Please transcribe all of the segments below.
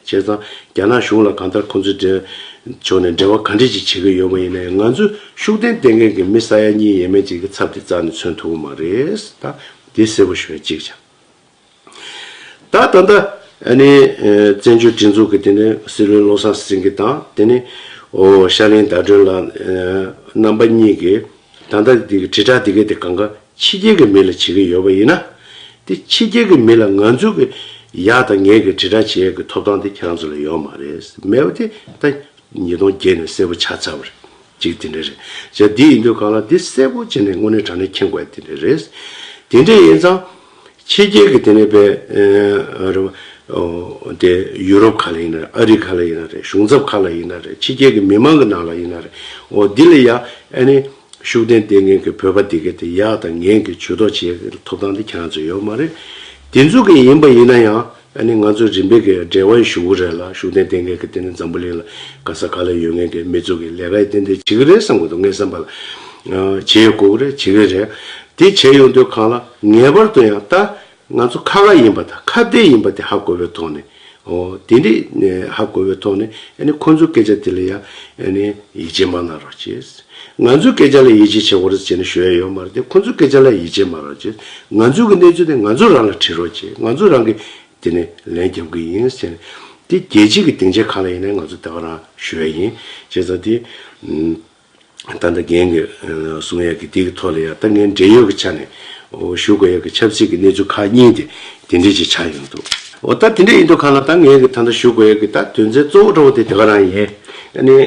བྱས་ཙང་རྒྱ་ནག་གཞུང་ལ་གང་ལྟར་ཁོང་ཚོའི་འབྲེལ་ཕྱོགས་ནས་འབྲེལ་བ་ག་འདྲས་ཅིག་བྱེད་ཀྱི་ཡོད་པ་ཡིན་ན་ཡང་ང་ཚོས་ཤུགས་ལྡན་བསྟེན་མཁན་གྱི་མི་ས་ཡ་གཉིས་ཡས་མས་ཅིག་གི་ཚབ་དེ་རྩ་ནས་མཚོན་ཐུབ་ཀྱི་མ་རེད་ད་དེ་གསལ་པོ་ཞུ་བའི་གཅིག་བྱ། ད་ད་ལྟ་ནི་བཙན་བྱོལ་སྒྲིག་འཛུགས་ཀྱི་དེ་ནི་སྲིད་བློན་བློ་བཟང་སེང་གེ་དང་དེ་ནི་ཤར་གླིང་ཟླ་སྒྲོན་ལགས་རྣམ་པ་གཉིས་ཀྱིས་ད་ལྟ་དེ་གི་དྲིལ་བསྒྲགས་དེ་གའི་དེ་གང་ག་ཕྱི་རྒྱལ་གྱི་མི་ལ་བྱེད་ཀྱི་ཡོད་པ་ཡིན་ན། དེ་ཕྱི་རྒྱལ་གྱི་མི་ལ་ང་ཚོ་གི་ཡག་དང་ངན་གྱི་དྲིལ་བསྒྲགས་བྱེད་ཡག་གི་ཐོབ་ཐང་དེ་ཁྱང་ཚོ་ལ་ཡོད་མ་རེད་མེད་པ་དེ་ད་ཉིས་སྟོང་བརྒྱད་ནས་གསལ་པོ་ཆགས་ཚར་བ་རེད་གཅིག་དེ་འདྲ་རེད་བཞག་དེ་ཡིན་དུས་གང་ལ་དེ་གསལ་པོ་བྱེད་ནས་དངོས་གནས་དྲང་གནས་མཁྱེན་དགོས་དེ་འདྲ་རེད། དེ་འདྲས་ཡིན་ཙང། ཕྱི་རྒྱལ་གྱི་དེ་ནས་པའི། རེད་བ། དེ་ཡུ་རོབ་ག་ལ་ཡིན་ན་རེད་ཨ་རི་ག་ལ་ཡིན་ན་རེད་གཞུང་ཚབ་ག་ལ་ཡིན་ན་རེད་ཕྱི་རྒྱལ་གྱི་མི་མང་གི་ནང་ལ་ཡིན་ན་རེད་འོ་དེ་ལ་ཡང་ཨ་ནི། ཤུགས་ལྡན་ལྟས་ངན་གྱི་བོད་པ་འདི་གའི་དེ་ཡག་དང་ངན་གྱི་ཇུས་གཏོགས་བྱེད་ཀྱི་ཐོབ་ཐང་དེ་ཁྱེད་རང་ཚོ་ཡོད་མ་རེད། དེ་ཚོ་གི་ཡིན་པ་ཡིན་ན་ཡང་ཨ་ནི་ང་ཚོ་རིམ་པས་གི་འབྲེལ་བ་ཡི་ཞུ་གུ་རེད་ལ་ཤུགས་ལྡན་ལྟས་ངན་གྱི་དེ་ནི་འཛམ་བུ་གླིང་ལ་ག་ས་ག་ལ་ཡོད་ངན་གྱི་མི་ཚོ་གི་ལས་ཀ་ཡི་ཏན་ཏན་བྱེད་ཀྱི་རེད་བསམ་གྱི་འདུག་ངའི་བསམ་པ་ལ། བྱེད་ཡོད་དགོས་ཀྱི་རེད་བྱེད་ཀྱི་རེད། དེ་བྱེད་ཡོང་དུས་གང་ལ་ངེས་པར་དུ་ཡང་ལྟ་ང་ཚོ་ཁ་ཁ་ཡིན་པ་དང་ཁ་བརྡའི་ཡིན་པ་དེ་ཧ་གོ་བའི་ཐོག་ནས་ཨོ་དེ་འདྲས་ཧ་གོ་བའི་ཐོག་ནས་ཨནི་ཁོང་ཚོའི་སྐད་ཆ་དེ་ལ་ཡང་ཨནི་ཡིད་ཆེས་མ་གནང་རོགས་གྱིས། ང་ཚོའི་སྐད་ཆ་ལ་ཡིད་ཆེས་བྱེད་རོགས་ཟེར་ནས་ཞུ་ཡ་ཡོད་མ་རེད་དེ་ཁོང་ཚོའི་སྐད་ཆ་ལ་ཡིད་ཆེས་མ་རོགས་གྱིས་ང་ཚོའི་གི་གནས་ཚུལ་དེ་ང་ཚོ་རང་ལ་དྲིས་རོགས་གྱིས་ང་ཚོ་རང་གི་དེ་ནས་ལན་རྒྱབ་གི་ཡིན་ཟེར་ནས་དེ་རྒྱལ་སྤྱིའི་གི་སྡིངས་ཆའི་གང་ལ་ཡིན་ན་ང་ཚོ་དེ་ག་རང་ཞུ་ཡ་ཡིན་བྱས་ཙང་དེ། ད་ལྟ་རྒན་གྱི་གསུང་ཡག་གི་དེ་གི་ཐོག་ལ་ཡང་ད་ངའི་འབྲེལ་ཡོད་ཀྱི་ཆ་ནས་ཞུ་དགོས་ཡག་གི་ཆབ་སྲིད་ཀྱི་གནས་ཚུལ་ཁག་གཉིས་དེ་དེ་འདྲས་ཅིག་ཆགས་ཡོང་འདུག་འོ་ད་དེ་འདྲས་ཡིན་འདུག་ཁ་ལ་ད་ངའི་གི་ད་ལྟ་ཞུ་དགོས་ཡག་གི་ད་དོན་ཚན་གཙོ་བོ་འདྲ་བོ་དེ་དེ་ག་རང་ཡིན། ནི།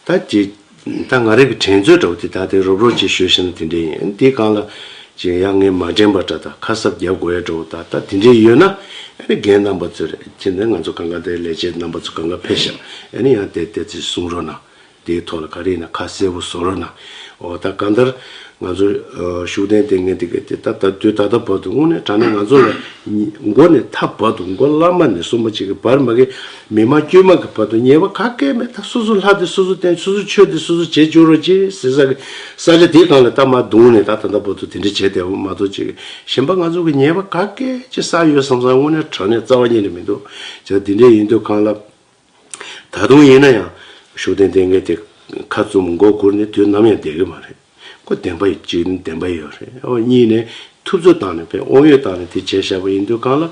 ད་ཅི། ད་ང་རིགས་ཀྱི་དྲན་ཚོད་འདྲ་བོ་དེ་ད་དེ་རོབ་རོབ་ཅིག་ཞུ་བཞིན་ན་དེ་འདྲས་ཡིན་ཨ་ནི་དེ་གང་ལ། ཅི་ཡག་ངས་མ་དྲན་པ་འདྲ་ད་ཁ་གསབ་རྒྱབ་དགོས་ཡག་འདྲ་བོ་ད་ད་དེ་འདྲས་ཡོད་ན། ཨ་ནི་རྒན་རྣམ་པ་ཚོས་རེད་ཅི་འདི་ང་ཚོ་གང་ག་དེ་ལས་བྱེད་རྣམ་པ་ཚོ་གང་ག་ཕེབས་ཤག་ཨ་ནི་ཡང་དེ་དེ་ཚོས་གསུང་རོགས་གནང། དེའི་ཐོག་ལ་ག་རེ་ཡིན་ན་ཁ་གསལ་བོ་བཟོ་རོགས་གནང། འོ་ད་གང་ལྟར། ང་ཚོ། ཤུགས་ལྡན་ལྟས་ངན་དེ་ག་དེ་ད་དུས་ད་ལྟ་བར་དུ་དངོས་གནས་དྲང་གནས་ང་ཚོ་ལ། མགོ་ནས་ད་བར་དུ་མགོ་བླ་མ་ནས་གསུམ་པ་གཅིག་གི་བར་མ་གི། མི་དམངས་དཀྱུས་མ་གི་བར་དུ་ཉེས་པ་ག་སྐད་མེད་ད་སོ་སོ་ལྷ་དེ་སོ་སོ་བསྟེན་སོ་སོ་ཆོས་དེ་སོ་སོ་བྱེད་འཇུག་རོགས་ཅེས་ཟེར་ས་གི། ས་ཆ་དེ་གང་ལ་ད་མ་བརྡུངས་ནས་ད་ད་ལྟ་བར་དུ་དེ་འདྲ་བྱས་བསྡད་པ་མ་གཏོགས་ཅིག་གཞན་པ་ང་ཚོ་གི་ཉེས་པ་ག་སྐད་ཅིག་བསགས་ཡོད་བསམ་བསམ་དངོས་གནས་དྲང་གནས་རྩ་བ་ཉིད་ནས་མི་འདུག་བྱས་ད་འདི་འདྲས་ཡིན་དུས་གང་ལ། ད་དུང་ཡིན་ན་ཡང་ཤུགས་ལྡན་ལྡན་འགས་དེ་ཁ་བཙུམ་མགོ་བསྒུར་ནས་དུས་ནམ་ཡང་བསྡད་ཀྱི་མ་རེད། ཁོ་བདེན་པ་ཡོད་གཅིག་ནི་བདེན་པ་ཡོད་རེད་ཨོ་གཉིས་ནས་ཐུབ་ཚོད་བཏང་ནས་བས་ཨོང་ཡོད་བཏང་ནས་དེ་བྱས་ཞག་པ་ཡིན་དུས་གང་ལ།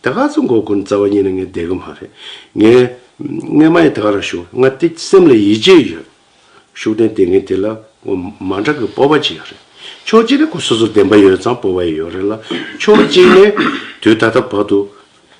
ད་ཁ་བཙུམ་མགོ་བསྒུར་ནས་རྩ་བ་ཉིད་ནས་ངས་བསྡད་ཀྱི་མ་རེད། ངས། ངས་མ་ཡི་ད་ག་རང་ཞུ། ང་དེ་སེམས་ལ་ཡིད་ཆེས་ཡོད། ཤུགས་ལྡན་ལྟས་ངན་དེ་ལ་མ་འདྲ་གི་སྤོབས་པ་ཅི་ཡོད་རེད། ཕྱོགས་གཅིག་ནས་ཁོ་སོ་སོ་བདེན་པ་ཡོད་ཙང་སྤོབས་པ་ཡོད་ཡོད་རེད་ལ། ཕྱོགས་གཅིག་ནས་དུས་ད་ལྟ་བར་དུ་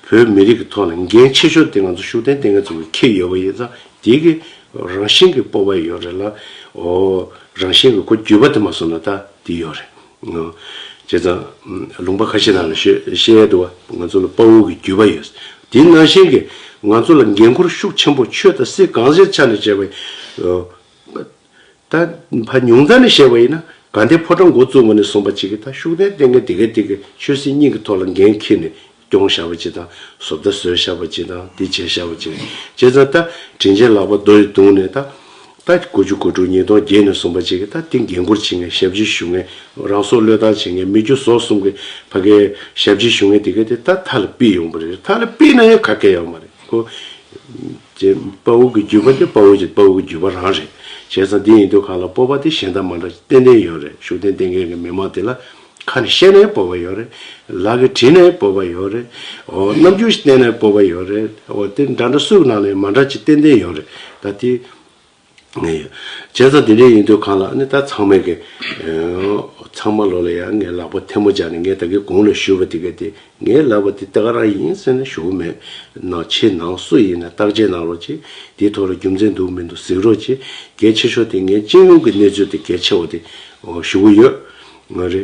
བོད་མི་རིགས་ཀྱི་ཐོག་ལ་འགན་ཆེ་ཤོས་དེ་ང་ཚོ་ཤུགས་ལྡན་ལྟས་ངན་ཚོ་ཁྱེར་ཡོད་པ་ཡིན་ཙང་དེ་གི་རང་བཞིན་གྱི་སྤོབས་པ་ཡོད་རེད་ལ། ཨོ། རང་བཞིན་གྱི་ཁོ་རྒྱུད་པ་དེ་མ་སོང་ན་ད་དེ་ཡོད་རེད། བྱས་ཙང། ལུང་པ་ཁ་ཤས་རྣམས་ལ་བཤད་ཡ་འདུག་བ་ང་ཚོ་ལ་དཔའ་བོ་གི་རྒྱུད་པ་ཡོད། དེའི་ནང་བཞིན་གྱི་ང་ཚོ་ལ་འགན་ཁུར་ཤུགས་ཆེན་པོ་ཆོས་དང་སྲིད་གང་ཟེར་ཆ་ནས་བྱས་པ་ཡིན། ད་ཕ་ཉུང་ཙམ་ནས་བཤད་པ་ཡིན་ན་དགའ་ལྡན་ཕོ་བྲང་འགོ་བཙུགས་པ་ནས་བཟུང་བ་ཅིག་གིས་ད་ཤུགས་ལྡན་བསྟེན་མཁན་དེ་ག་དེ་གའི་ཆོས་སྲིད་གཉིས་ཀྱི་ཐོག་ལ་འགན་འཁྱེར་ནས་སྐྱོང་ཤར་བ་གཅིག་དང། བཟོ་བརྡ་བཟོས་ཤར་བ་གཅིག་དང། འདི་བྱས་ཤར་བ་གཅིག་རེད། བྱས་ཙང་ད། དྲིན་ཆེན་ལགས་པ་རྡོ་ཡི་དུང་ནས་ད། ད། དགུ་བཅུ་དགུ་དྲུག་ཉིས་སྟོང་བརྒྱད་ནས་གསུངས་པ་གཅིག་གིས་ད་དེ་འགན་ཁུར་བྱེད་མཁན་ཞབས་ཕྱི་ཞུ་མཁན། རང་སྲོག་བློས་བཏང་བྱེད་མཁན་མི་རྒྱུ་ཟོག་གསུམ་གི་ཕ་གའི་ཞབས་ཕྱི་ཞུ་མཁན་དེ་ག་དེ་ད་མཐའ་ལ་པི་ཡོང་པ་རེད། མཐའ་ལ་པི་ན་ཡང་ཁ་སྐད་ཡོང་བ་རེད། ཁོ། བྱས། དཔའ་བོ་གི་རྒྱུད་པ་དེ་དཔའ་བོ་གྱི་དཔའ་བོ་གི་རྒྱུད་པ་རང་རེད། བྱས་ཙང་འདི་ཡིན་དུས་གང་ལ་སྤོབས་པ་དེ་གཞན་དག་མ་འདྲ་ཏན་ཏན་ཡོད་རེད་ཤུགས་ལྡན་བསྟེན་མཁན་གི་མི་མང་དེ་ལ། ཁ་ནས་བཤད་ནས་སྤོབས་པ་ཡོད་རེད། ལག་གིས་བྲིས་ནས་སྤོབས་པ་ཡོད་རེད། ཨོ། རྣམ་འགྱུར་ཞིག་བསྟན་ནས་སྤོབས་པ་ཡོད་རེད། ཨོ། དེ་འདྲ་འདྲ་སུའི་ནང་ནས་མ་འདྲ་ཅིག་ཏན་ཏན་ཡོད་རེད། ད་དེ། ངས་ཡོད། བྱས་ཙང་དེ་འདྲའི་ཡིན་དུས་གང་ལགས་ནི་ད་ཚང་མས་གི། ཨོ། ཚང་མ་ལོག་ལ་ཡ་ངའི་ལག་པ་ཐལ་མོ་སྦྱར་ནས་ངས་ད་གི་གུང་ལ་བཞུར་བ་དེ་ག་དེ་ངའི་ལག་པ་དེ་ད་ག་རང་ཡིན་ཟེར་ནས་བཞུར་བོ་མེད། ནང་ཆེས་ནང་སུ་ཡིན་ན་བརྟག་དཔྱད་གནང་རོགས་ཅིག་དེའི་ཐོག་ལ་རྒྱུ་མཚན་འདུག་མི་འདུག་གཟིགས་རོགས་ཅིག་གལ་ཆེ་ཤོས་དེ་ངའི་སྤྱི་ཡོངས་ཀྱི་གནས་ཚུལ་དེ་གལ་ཆེ་བ་དེ། ཨོ། ཞུ་གི་ཡོད། ངོ་རེ།